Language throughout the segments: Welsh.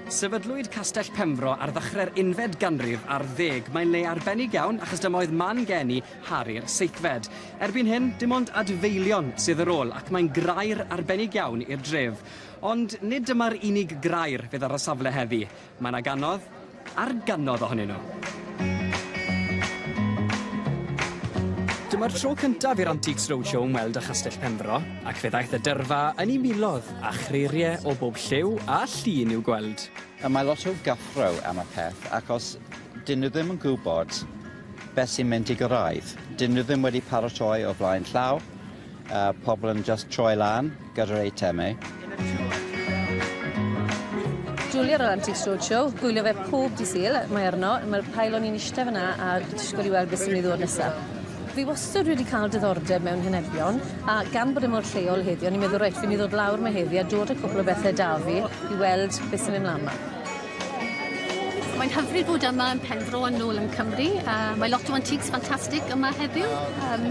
Sefydlwyd Castell Penfro ar ddechrau'r unfed ganrif ar ddeg. Mae'n le arbennig iawn achos dyma oedd man geni Harri'r Seithfed. Erbyn hyn, dim ond adfeilion sydd ar ôl ac mae'n grair arbennig iawn i'r dref. Ond nid dyma'r unig grair fydd ar y safle heddi. Mae 'na gannoedd ar gannoedd ohonyn nhw. Dyma'r tro cyntaf i'r Antiques Roadshow ymweld â Chastell Penfro, ac fe ddaeth y dyrfa yn ei miloedd, a chreiriau o bob lliw a llun i'w gweld. Mae lot o gyffro am y peth, ac os 'dyn nhw ddim yn gwybod beth sy'n mynd i gyrraedd, 'dyn nhw ddim wedi paratoi o flaen llaw, A pobl yn just troi lan gyda'r eitemau. Julia o'r Antiques Roadshow, gwylio fe pob di Sul, mae arno, mae'r pail o'n i'n eistedd fyna a disgwyl i weld beth sy'n ei ddod nesaf. Fi wastad wedi cael diddordeb mewn henebion, a gan bod e mor lleol heddi, o'n i'n meddwl, reit, fi'n mynd i ddod lawr 'ma heddi a dod â cwpl o bethe 'da fi i weld be' sy'n mynd mlan 'ma. Mae'n hyfryd bod yma yn Penfro a nôl yn Cymru. Yy mae lot o antiques ffantastig yma heddiw. Yym.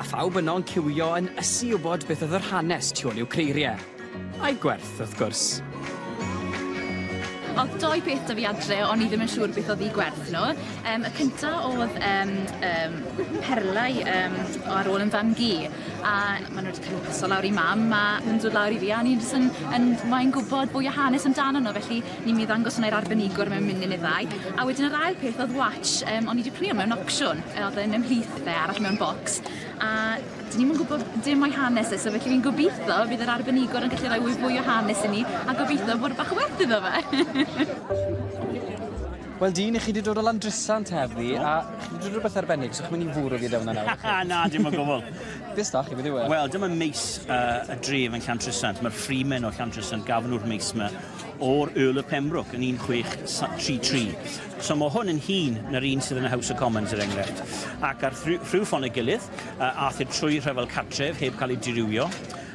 A phawb yno'n ciwio yn ysu i wybod beth oedd yr hanes tu ôl i'w creiriau. A'i gwerth, wrth gwrs. Oedd dou beth 'da fi adre o'n i ddim yn siŵr beth oedd eu gwerth nhw. Um, y cynta oedd um, um, perlau um, ar ôl yn fam gi, a maen nhw wedi cael eu paso lawr i mam, a nhw'n dod lawr i fi, a ni'n jyst yn, yn moyn gwybod bwy o hanes amdano nhw, felly ni'n mynd i ddangos hwnna i'r arbenigwr mewn munud neu ddau. A wedyn yr ail peth oedd watch, um, o'n i wedi prynu mewn opsiwn, oedd yn ymhlith Fe arall mewn bocs. A dyn ni'm yn gwybod dim o'i hanes e, so felly fi'n gobeithio bydd yr arbenigwr yn gallu rhoi fwy o hanes i ni, a gobeithio bod bach o werth iddo fe. Wel dyn, i chi wedi dod o Landrisant heddi, a chi wedi dod rhywbeth arbennig, so chi'n mynd i fwrw fi dewna nawr. Na, dim o gwbl. Beth da chi, beth yw e? Wel, dyma meis uh, y dref yn Llantrisant. Mae'r ffrimen o Llantrisant gafon nhw'r meis yma o'r Earl of Pembroke yn 1633. So mae hwn yn hŷn na'r un sydd yn y House of Commons, er enghraifft. Ac ar rhyw ffon ei gilydd, aeth e trwy rhyfel cartref heb cael ei dirywio,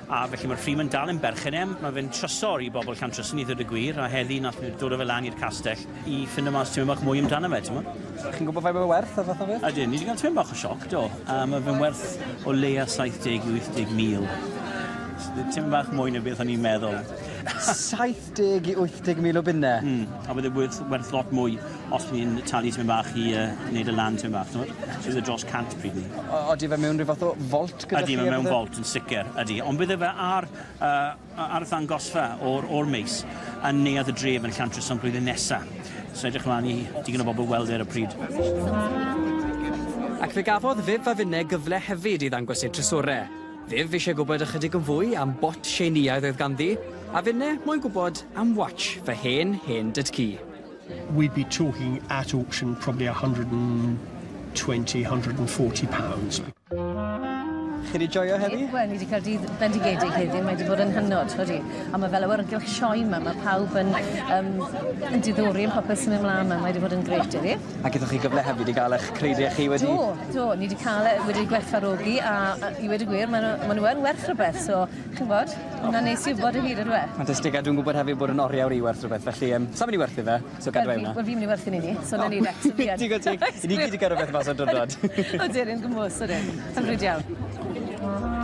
a felly mae'r Freeman dal yn berchen em, mae fe'n trysor i bobl Llantrysi i ddweud y gwir, a heddi nath nhw dod â fe lan i'r castell i ffindo mas tipyn bach mwy amdano fe, timod. Chi'n gwybod faint mae fe werth a phetha fyth? Ydyn, ni wedi cael tipyn bach o sioc, do. Uh, mae fe'n werth o leia 70 i 80 mil. Tipyn bach mwy na beth o'n i'n meddwl. 70 i 80 mil o bunne. Mm, a bydd e werth, werth lot mwy os bydd ni'n talu ti'n bach i uh, wneud y lan ti'n bach, ti'n So bydd e dros 100 pryd ni. Oeddi fe mewn rhyw fath o folt gyda chi? Ydy, fe mewn folt yn sicr, ydy. Ond bydd e fe ar, uh, ar y ddangosfa o'r, or meis yn neuad y dref yn Llantrys am blwyddyn nesaf. So edrych ymlaen i digon o bobl weld e ar y pryd. Ac fe gafodd Viv a Finne gyfle hefyd i ddangos eu trysorau. Ddyf eisiau gwybod ychydig yn fwy am bot Tsieineaidd oedd ganddi, a finne moyn gwybod am watch fy hen hen dyd-cu. we'd be talking at auction probably a hundred and twenty, hundred and forty pounds. Chi wedi joio heddi? Wel, ni wedi cael dydd bendigedig heddi, mae wedi bod yn hynod, odi. A mae fel awyrgylch sioe yma, mae pawb yn, um, yn diddori yn popeth sy'n mynd mlaen yma, mae wedi bod yn grêt heddi. A gethoch chi gyfle hefyd i gael eich credu a chi wedi... Do, do, ni wedi cael e wedi gwerthfarogi a a i wedi gwir maen nhw maen nhw yn werth rhywbeth so chi'n gwybod hwnna'n neis i wybod o hyd yndyw e? Ffantastig a dwi'n gwybod hefyd bod yn oriawr i werth rhywbeth felly yym sa i'n mynd i werthu fe so gadw e yna. Wel fi'n mynd i werthu un i ni so nawn ni de so fi yn. Digon teg i ni gyd 'di cael rhywbeth mas o'r dwrnod. Odyn yn gymhwys odyn. Hyfryd iawn.